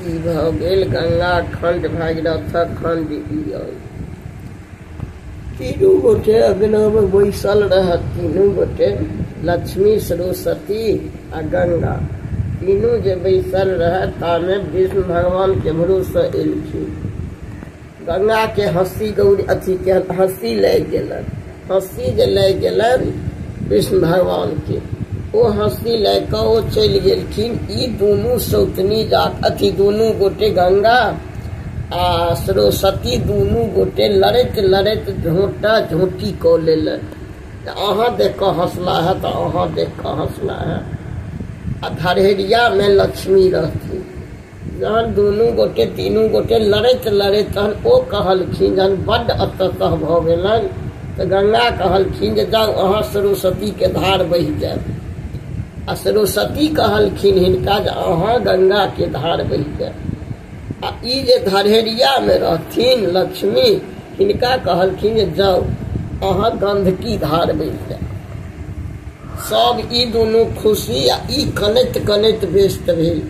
ई भऽ गेल गंगा खंड भागीरथक खंड ई अइ तीनू गोटे अग्नमे बैसल रहत तीनू गोटे लक्ष्मी सरस्वती आ गंगा तीनू जे बैसल रहत तामे विष्णु भगवान केम्हरोसँ एलखिन गंगा के हस्ती गौरी अथी के हस्ती ले गेलन हस्ती जे ले गेलन कृष्ण भगवान के ओ हस्ती ले क ओ चलि गेलखिन ई दुनू सौतनी जात अथी दुनू गोटे गंगा आ सरस्वती दुनू गोटे लड़ैत लड़ैत झोटा झोटी कऽ लेलन तऽ अहाँ देख कऽ हौसला है तऽ अहाँ देख कऽ हौसला है आ धरहरिया में लक्ष्मी रहथिन जहन दुनू गोटे तीनू गोटे लड़ैत लड़ैत तहन ओ कहलखिन जहन बड्ड अततः भऽ गेलनि तऽ गंगा कहलखिन जे जाउ अहाँ सरस्वतीके धार बहि जायब आ सरस्वती कहलखिन हिनका जे अहाँ गंगाके धार बहि जायब आ ई जे धरेरियामे रहथिन लक्ष्मी हिनका कहलखिन जे जाउ अहाँ गंधकी धार बहि जायब सब ई दुनू खुशी आ ई कनैत कनैत व्यस्त भेल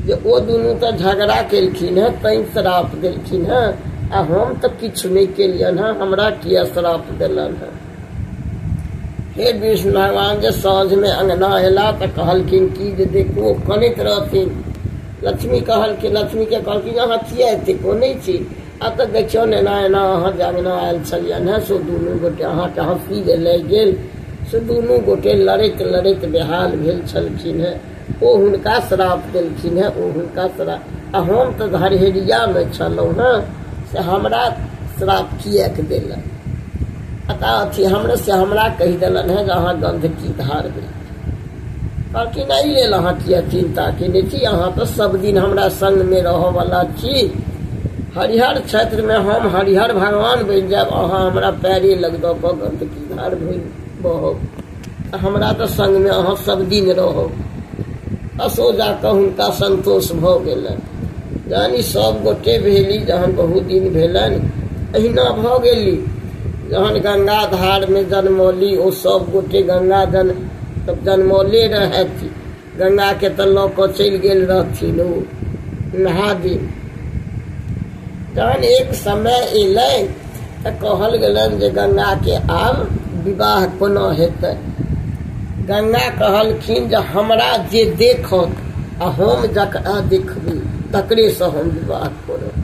जे ओ दुनू तऽ झगड़ा केलखिन हेँ तैँ श्राप देलखिन हेँ आ हम तऽ किछु नहि केलियनि हेँ हमरा किया श्राप देलनि हेँ हे विष्णु भगवान जे साँझमे अङ्गना अयला तऽ कहलखिन कि जे देखू ओ कनैत रहथिन लक्ष्मी कहलखिन लक्ष्मीके कहलखिन अहाँ किया एतेक कोनै छी आ तऽ देखियौ ने एना एना अहाँ जे अङ्गना आयल छलियनि हेँ से दुनू गोटे अहाँके हँसी जे लागि गेल से दुनू गोटे लड़ैत लड़ैत बेहाल भेल छलखिन हेँ ओ हुनका श्राप देलखिन हेँ ओ हुनका श्राप आ हम तऽ घरहेरियामे छलहुँ हेँ से हमरा श्राप किएक देलक आ तऽ अथी हमरा से हमरा कहि देलनि हेँ जे अहाँ गन्धकी धारबै कहलखिन एहि लेल अहाँ किए चिन्ता केने छी अहाँ तऽ सभदिन हमरा सङ्गमे रहऽवला छी हरिहर क्षेत्रमे हम हरिहर भगवान बनि जायब अहाँ हमरा पैरे लग दऽ कऽ गन्दगी धार भरि बहब हमरा तऽ सङ्गमे अहाँ सभदिन रहब असो जा कऽ हुनका सन्तोष भऽ गेलनि यानि सभगोटे भेली जहन बहुत दिन भेलनि अहिना भऽ गेली जहन गङ्गा धारमे जनमौली ओ सभगोटे गङ्गा जन तब जनमौले रहथि गंगा के तऽ लऽ कऽ चलि गेल रहथिन ओ नहा दिन तहन एक समय एलै तऽ कहल गेलनि जे गंगा के आब विवाह कोना हेतै गंगा कहलखिन जे हमरा जे देखत आ हम जकरा देखबी तकरेसँ हम विवाह करब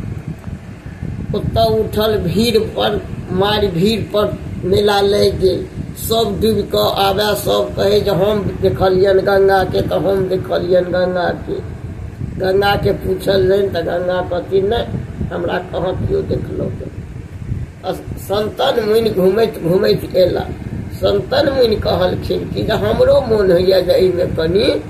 ओतऽ उठल भीड़ पर मारि भीड़ पर मेला लागि गेल सब डूबि कऽ आबए सब कहै जे हम देखलियनि गंगाके तऽ हम देखलियनि गंगाके गंगाके पूछलियनि तऽ गंगा कहती नहि हमरा कहाँ केओ देखलहुँ संतन मुनि घूमैत घूमैत एला संतन मुनि कहलखिन कि जे हमरो मोन होइए जे एहिमे कनी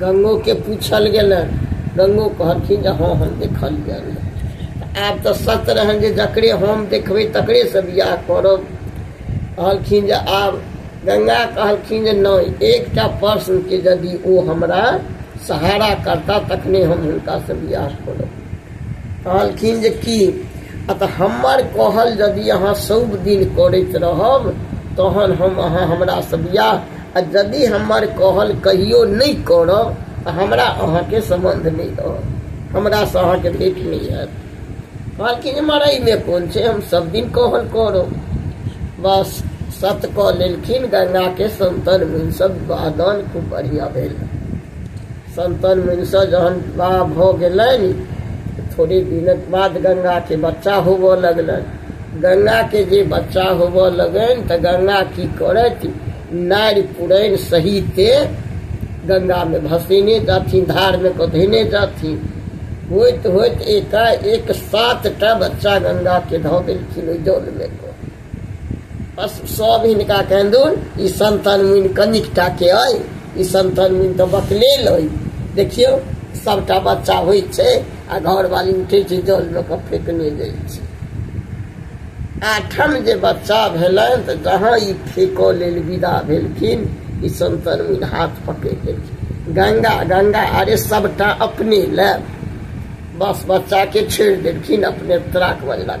गंगो के पूछल गेल गंगो कहलखिन जे हँ हम देखल गेल आब तऽ सत रहन जे जकरे हम देखबै तकरे से बियाह करब कहलखिन जे आब गंगा कहलखिन जे नहि एकटा प्रश्न के यदि ओ हमरा सहारा करता तखने हम हुनका से बियाह करब कहलखिन जे की आ तऽ हमर कहल यदि अहाँ सब दिन करैत रहब तहन हम अहाँ हमरा से बियाह आ यदि हमर कहल कहियो नहीं करब तो हमरा अहा के संबंध नहीं रहत हमरा से के भेट नहीं है कहलखिन मरई में कौन छे हम सब दिन कहल करो बस सत कह लेलखिन गंगा के संतन मुन सब वादन खूब बढ़िया भेल संतन मुनिसँ जहन विवाह भऽ गेलनि थोड़े दिनक बाद गंगाके बच्चा होबऽ लगलनि गंगाके जे बच्चा होबऽ लगनि तऽ गंगा की करथि नारि पुरैन सहिते गंगामे भसेने जाथिन धारमे कऽ धेने जाथिन होइत होइत एकाएक सातटा बच्चा गंगाके धऽ देलखिन ओहि जलमे कऽ बस सब इनका कहन ई संतन मुनि कनिक टा के अय ई संतन मुनि तो बकले लय देखियो सबटा बच्चा होइ छै आ घर वाली उठे छै जल लऽ कऽ फेकने जाइ छै आठम जे बच्चा भेलनि तऽ जहाँ ई फेकऽ लेल विदा भेलखिन ई संतन मुनि हाथ पकड़ि लेलखिन गंगा गंगा अरे सबटा अपने ले बस बच्चा के छेड़ देलखिन अपने त्राक बजलक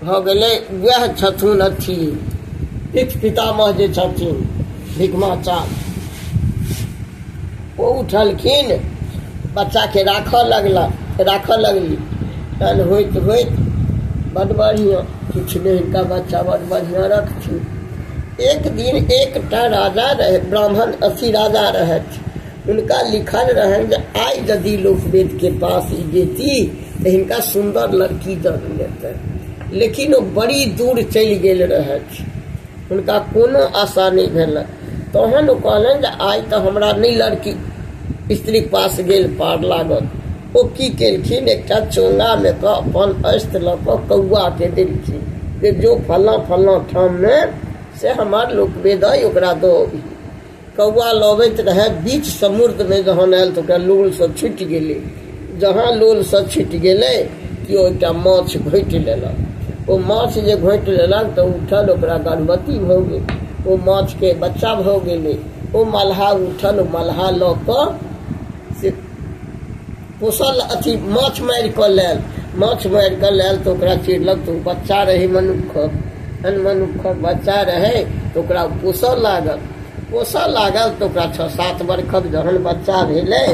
भऽ गेलै वएह छथुन अथी पित पितामह जे छथिन भिकमाचार ओ उठलखिन बच्चाके राखऽ लगला राखऽ लगली तहन होइत होइत बड बढ़िआँ किछु नहि हिनका बच्चा बड बढ़िआँ रखथिन एक दिन एकटा राजा रहै ब्राह्मण अथी राजा रहथि हुनका लिखल रहनि जे आइ यदि लोक वेदके पास ई जेती तऽ हिनका सुन्दर लड़की दऽ देतै लेकिन ओ बड़ी दूर चलि गेल रहथि हुनका कोनो आशा नहि भेलनि तहन ओ कहलनि जे आइ तऽ हमरा नहि लड़की स्त्रीक पास गेल पार लागल ओ की केलखिन एकटा चोंगामे कऽ अपन अस्त्र लऽ कऽ कौआके देलखिन जे जो फल्लाँ फल्लाँ ठाममे से हमर लोक वेद अइ ओकरा दऽ अबही कौआ लबैत रहए बीच समुद्रमे जहन आयल तऽ ओकरा लोलसँ छुटि गेलै जहाँ लोलसँ छुटि गेलै कि ओ एकटा माछ घोटि लेलक ओ माछ जे घोटि लेलक तऽ उठल ओकरा गर्भवती भऽ गेल ओ माछके बच्चा भऽ गेलै ओ मलहा उठल मलहा लऽ कऽ से पोसल अथी माछ मारि कऽ लेल माछ मारि कऽ लेल तऽ ओकरा चिड़लक तऽ ओ बच्चा रहै मनुक्खक एहन मनुक्खक बच्चा रहै तऽ ओकरा पोसऽ लागल पोसऽ लागल तऽ ओकरा छओ सात बरखक जहन बच्चा भेलै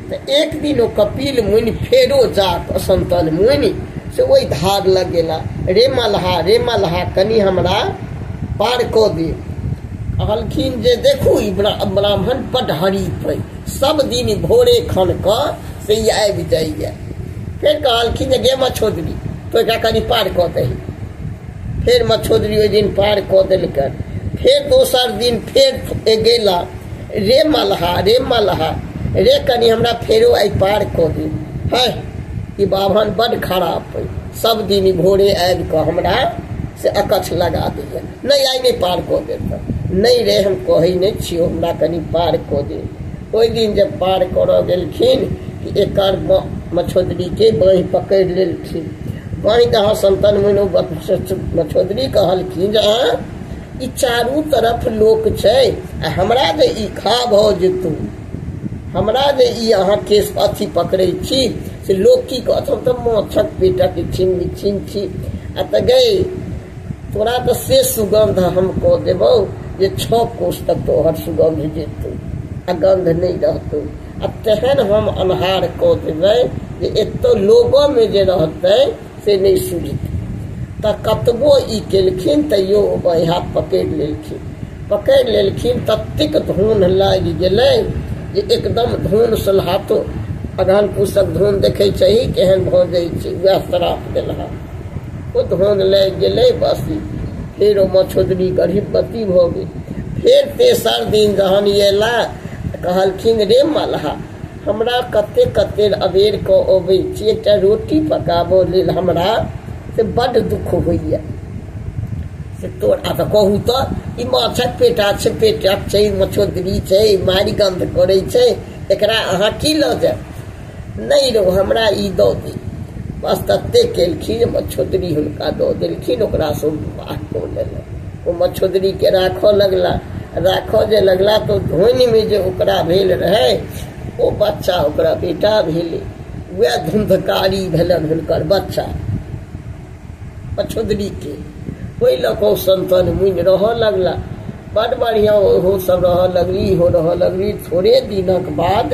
तऽ एक दिन ओ कपिल मुनि फेरो जा कऽ सन्तन मुनि से ओहि धार लग गेला रे मल्हा रे मल्हा कनि हमरा पार कऽ दे कहलखिन जे देखू ई ब्रा- ब्राह्मण बड हरी पैक सब दिन भोरे खन कऽ से ई आबि जाइए फेर कहलखिन जे गे मछोदरी तो एकरा कनि पार कऽ दही फेर मछोदरी ओहि दिन पार कऽ देलकन फेर दोसर दिन फेर गेला रे मलहा रे मलहा रे कनि हमरा फेरो आइ पार कऽ दे है ई बाभन बड्ड खराब अइ सब दिन भोरे आबि कऽ हमरा से अकछ लगा दैए नहि आइ नहि पार कऽ देब तऽ नहि रे हम कहै नहि छियौ हमरा कनि पार कऽ दे ओहि दिन जब पार करऽ गेलखिन कि एकर मछोदरीके बाँहि पकड़ि लेलखिन बाँहि दहा संतन मनो मछोदरी कहलखिन जे अहाँ ई चारू तरफ लोक छै आ हमरा जे ई खा भऽ जेतौ हमरा जे ई अहाँ केस अथी पकड़ै छी से लोग की कहत हम तो मच्छक बेटा के छीन बिछीन छी आ त गए तोरा तो से सुगंध हम कह देबो जे छो कोष तक तोहर सुगंध जेतौ आ गंध नहीं रहतौ आ तेहन हम अन्हार कह देबै जे एतो लोगो में जे रहतै से नहि सुझत तऽ कतबो ई केलखिन तैयो बाँहि हाथ पकड़ि लेलखिन पकड़ि लेलखिन ततेक धुन लागि गेलै जे एकदम धुन सोल्हातो अगहन पूसक धुन देखै छही केहन भऽ जाइ छै वएह श्राप देलहा ओ धुन लागि गेलै बस फेर ओ मछोदरी गर्भवती भऽ गेल फेर तेसर दिन जहन अयला कहलखिन रे मलहा हमरा कते कते अबेर कऽ अबै छी एकटा रोटी पकाबऽ लेल हमरा से बड्ड दुख होइए से तोर आ तऽ कहू तऽ ई माछक पेटा छै पेटा छै मछोदरी छै मारि गन्ध करै छै एकरा अहाँ की लऽ जायब नहि रहो हमरा ई दऽ दे बस तते केलखिन मछोदरी हुनका दऽ देलखिन ओकरासँ बाह कऽ लेलक ओ मछोदरी के राख लगला राख जे लगला तो धोनी में जे ओकरा भेल रहे ओ बच्चा ओकरा बेटा भेले वह धुंधकारी भेलन हुनकर बच्चा मछोदरी के ओहि लऽ कऽ संतन मुनि रहऽ लगला बड बढ़िया ओहो सब रह लगली हो रह लगली थोड़े दिनक बाद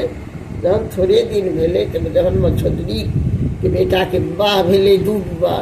जहन थोड़े दिन भेलै तऽ जहन मछोदरी के बेटा के विवाह भेलै दू विवाह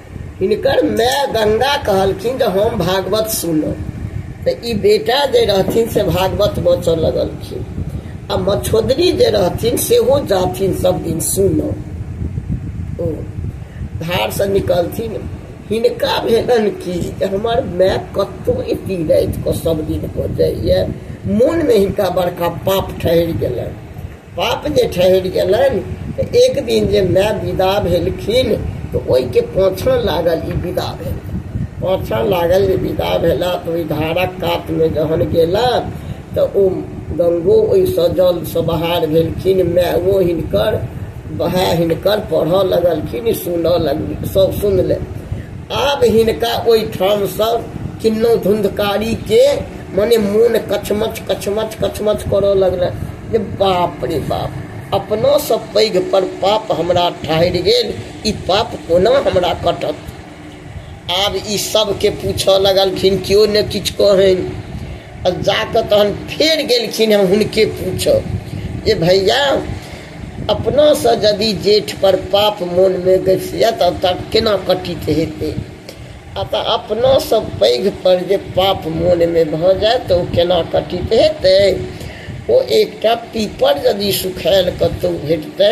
हिनकर माय गंगा कहलखिन जे हम भागवत सुनब तऽ ई बेटा जे रहथिन से भागवत बचऽ लगलखिन आ मछोदरी जे रहथिन सेहो जाथिन सब दिन सुनब ओ धारसँ निकलथिन हिनका भेलन कि जे हमर माय कतहु एती राति कऽ सब दिन कऽ जाइए मोनमे हिनका बड़का पाप ठहरि गेलनि बाप जे ठहरि गेलनि तऽ एक दिन जे माय विदा भेलखिन तऽ ओहिके पाछाँ लागल ई विदा भेल पाछाँ लागल जे विदा भेला तऽ ओहि धारक कातमे जहन गेला तऽ ओ गंगो ओहिसँ जलसँ बहार भेलखिन मायो हिनकर वएह हिनकर पढ़ऽ लगलखिन सुनऽ लगल सब सुनले आब हिनका ओहिठामसँ किन्नो धुंधकारीके मने मोन कचमच कचमच कचमच करऽ लगलनि जे बाप रे बाप अपनासँ पैघ पर पाप हमरा ठहरि गेल ई पाप कोना हमरा कटत आब ई सभके पूछऽ लगलखिन केओ ने किछु कहन आ जाकऽ तहन फेर गेलखिन हम हुनके पूछब जे भैया अपनासँ यदि जेठपर पाप मोनमे गसि जायत तब केना कटित हेतै आ तऽ अपनासँ पैघपर जे पाप मोनमे भऽ जाय तऽ ओ केना कटित हेतै ओ एकटा पीपर यदि सुखायल कतहु भेटतै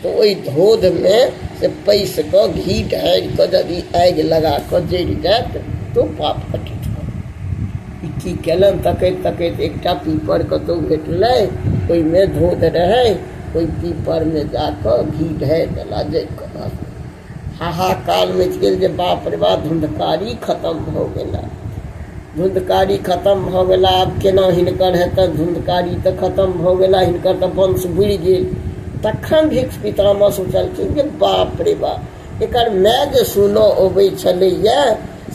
तऽ ओहि धोधमे से पैस कऽ घी ढारि कऽ यदि आगि लगा कऽ जरि जायत तऽ ओ पाप कटित ई की केलनि तकैत तकैत एकटा पीपर कतहु भेटलै ओहिमे धोध रहै ओहि पीपरमे जा कऽ घी ढारि देला जरि कऽ हाहाकार मचि गेल जे बाप रे बाप धुंधकारी खतम भऽ गेला धुंधकारी खतम भऽ गेला आब केना हिनकर हेतनि धुंधकारी तऽ खतम भऽ गेला हिनकर तऽ वंश बुड़ि गेल तखन भिक्ष पितामह सोचलखिन जे बाप रे बाप एकर माय जे सुनऽ अबै छलैए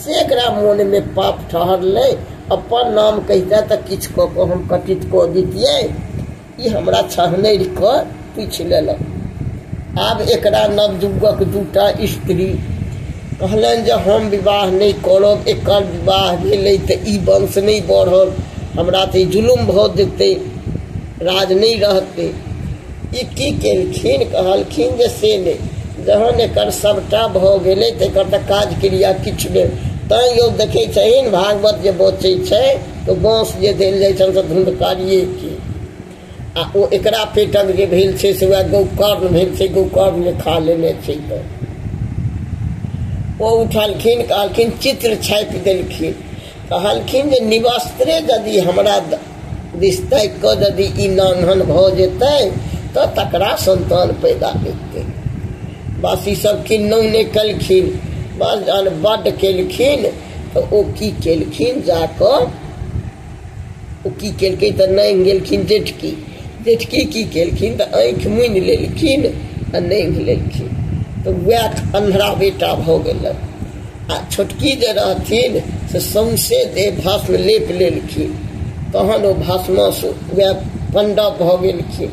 से एकरा मोनमे पाप ठहरलै अपन नाम कहितै तऽ किछु कऽ कऽ हम कटित कऽ दितियै ई हमरा छहनरि कऽ पूछि लेलक आब एकरा नवयुगक दूटा स्त्री कहलनि जे हम विवाह नहि करब एकर विवाह भेलै तऽ ई वंश नहि बढ़ल हमरा तऽ ई जुलुम भऽ जेतै राज नहि रहतै ई की केलखिन कहलखिन जे से नहि जहन एकर सभटा भऽ गेलै तऽ एकर तऽ काज क्रिया किछु नहि तैँ यौ देखै छहीन भागवत जे बचै छै तऽ बाँस जे देल जाइ छनि से धुंधकारिए छी आ ओ एकरा पेटक जे भेल छै से वएह गौकर्ण भेल छै गौकर्ण जे खा लेने छै तऽ ओ उठलखिन कहलखिन चित्र छापि देलखिन कहलखिन जे निवस्त्रे यदि हमरा दिस ताकि कऽ यदि ई नान्हन भऽ जेतै तऽ तकरा संतान पैदा हेतै बस ई सब किन्नौ नहि केलखिन बस जहन बड्ड केलखिन तऽ ओ की केलखिन जा कऽ ओ की केलखिन तऽ नहि गेलखिन जेठकी जेठकी की केलखिन तऽ आँखि मुनि लेलखिन आ नहि लेलखिन तऽ वएह अन्हरा बेटा भऽ गेलै आ छोटकी जे रहथिन से सौंसे देह भस्म लेप लेलखिन तहन ओ भस्मसँ वएह पण्डव भऽ गेलखिन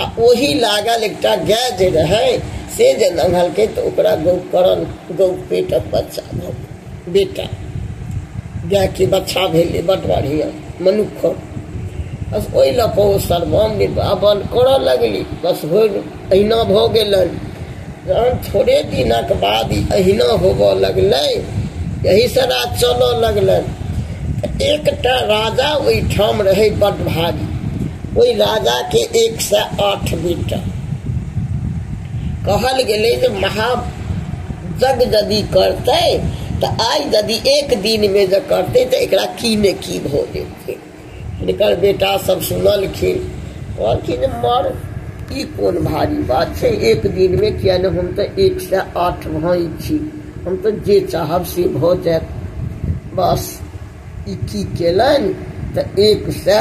आ ओही लागल एकटा गाय जे रहै से जे नन्हलकै तऽ ओकरा गौ करन गौ पेटक बच्चा भऽ बेटा गायके बच्चा भेलै बड बढ़िआँ मनुख बस ओहि लऽ कऽ ओ सर्वम निर्वापन करय लगली बस भोर अहिना भऽ गेलनि जहन थोड़े दिनक बाद ई अहिना होबऽ लगलै यहीसँ राज चलऽ लगलनि एकटा राजा ओहिठाम रहै बड्ड भारी ओहि राजाके एक सए आठ बेटा कहल गेलै जे महा जग यदि करतै तऽ आइ यदि एक दिनमे जे करतै तऽ एकरा की ने की भऽ जेतै हिनकर बेटा सब सुनलखिन कहलखिन जे मर ई कोन भारी बात छै एक दिन में किया ने हम तऽ एक से आठ भाई छी हम तऽ जे चाहब से भऽ जायत बस ई की केलनि तऽ एक से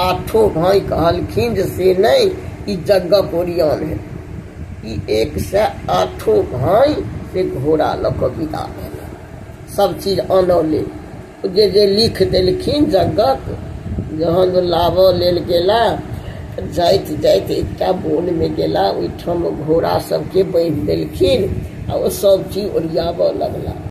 आठो भाई कहलखिन जे से नहि ई जगक ओरियान है ई एक से आठो भाई से घोड़ा लऽ कऽ विदा भेल सब चीज अनौले जे जे लिख देलखिन जगत जहन लाबऽ लेल गेला जाइत जाइत एकटा बोनमे गेला ओहिठाम घोड़ा सभके बान्हि देलखिन आ ओ सभ चीज ओरियाबऽ लगला